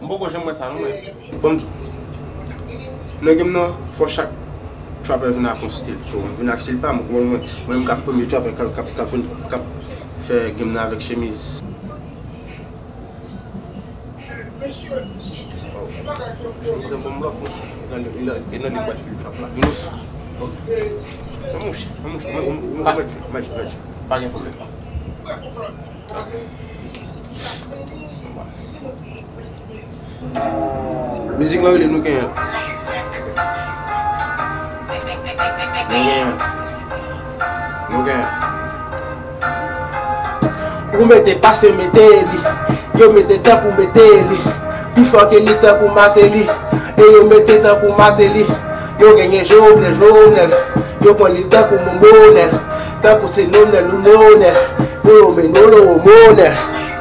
M poko janm wè sa non mwen. Bon nèg m nan fò chak trapper vin ak yon stil so m vin ak stil pam ou konprann mwen menm kap premye trapper kap vin kap fè game nan avèk chemiz. Mizik lan rele nou genyen. Nou genyen. Nou genyen. Ou mete pase mete li. Yo mete tan pou mete li. Pi fò ke li tan pou mate li. E yo mete tan pou mate li. Yo genyen Jovenel, Jovenel. Yo pran li tan pou Momonel. Tankou se nonè nou nonè. Pou yo men nou nou monè.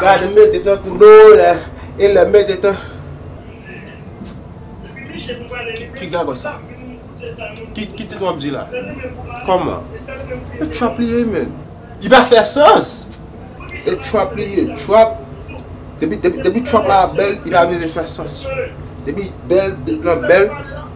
Gad m mete tankou nonè. E lè m mete tan. Ki gagòt sa? Ki tit wap di la? Kòman? E trap li ye menn. Li pa fè sans! E trap li ye. Trap Depi trap la bèl li pa bezwen fè sans. Depi bèl, bit lan bèl.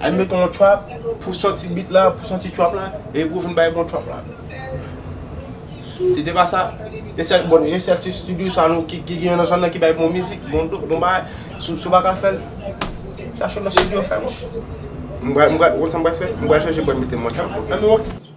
Al met on trap pou santi beat la, pou santi trap la, e pou vin bay bon trap la. Si te pa sa, e sèl bon, e sèl ti studio sa nou ki gen nan zòn nan ki bay bon mizik, bon do, bon bagay, si w pa ka fè l, chache yon lòt studio fè l. M pral, m pral, ou konn sa m pral fè? M pral chache m pral mete m on trap, ann wè.